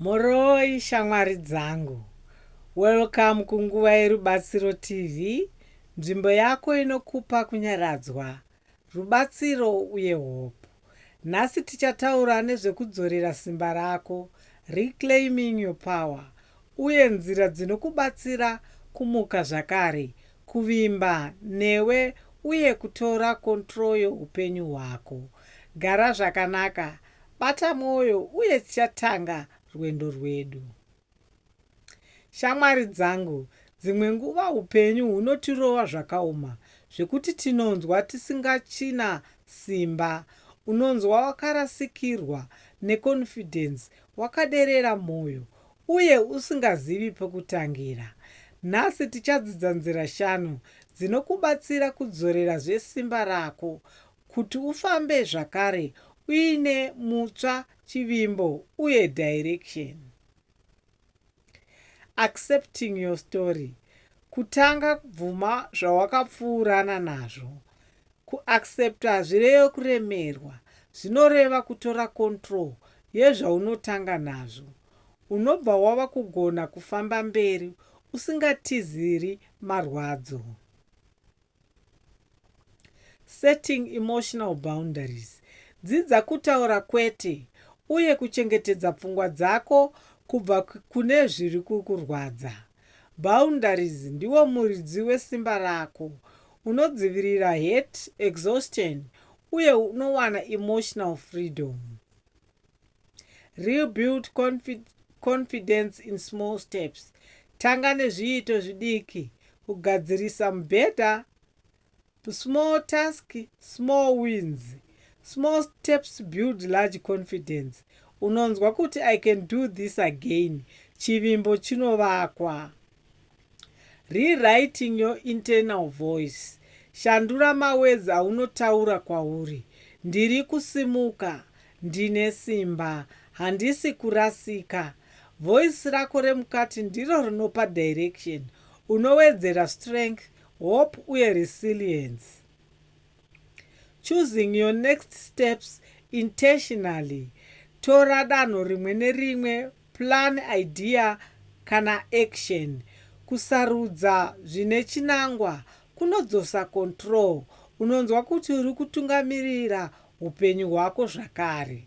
Mhoroi shamwari dzangu. Welcome kunguva yerubatsiro TV, nzvimbo yako inokupa kunyaradzwa, rubatsiro uye hope. Nhasi tichataura nezvekudzorera simba rako, reclaiming your power, uye nzira dzinokubatsira kumuka zvakare, kuvimba newe uye kutora control youpenyu hwako. Gara zvakanaka Bata mwoyo uye tichatanga rwendo rwedu. Shamwari dzangu, dzimwe nguva upenyu hunotirova zvakaoma zvekuti tinonzwa tisingachina simba. Unonzwa wakarasikirwa neconfidence, wakaderera mwoyo uye usingazivi pekutangira. Nhasi tichadzidza nzira shanu dzinokubatsira kudzorerazve simba rako. kuti ufambe zvakare uine mutsva chivimbo uye direction accepting your story kutanga kubvuma zvawakapfuurana nazvo kuaccept hazvireyo kuremerwa zvinoreva kutora control yezvaunotanga nazvo unobva wava kugona kufamba mberi usingatiziri marwadzo Setting emotional boundaries, Dzidza kutaura kwete uye kuchengetedza pfungwa dzako kubva kune zviri kukurwadza. Boundaries ndiwo muridzi wesimba rako. Unodzivirira hurt, exhaustion uye unowana emotional freedom. Rebuild confidence in small steps. Tanga nezviito zvidiki. Kugadzirisa mubhedha, small task, small wins. Small steps build large confidence. Unonzwa kuti I can do this again. Chivimbo chinovakwa. Rewriting your internal voice, Shandura mawords aunotaura kwauri, Ndiri kusimuka, Ndine simba, Handisi kurasika. Voice rako remukati ndiro rinopa direction, unowedzera strength, hope uye resilience. Choosing your next steps intentionally, tora danho rimwe nerimwe, plan, idea kana action. Kusarudza zvine chinangwa kunodzosa control, unonzwa kuti uri kutungamirira hupenyu hwako zvakare.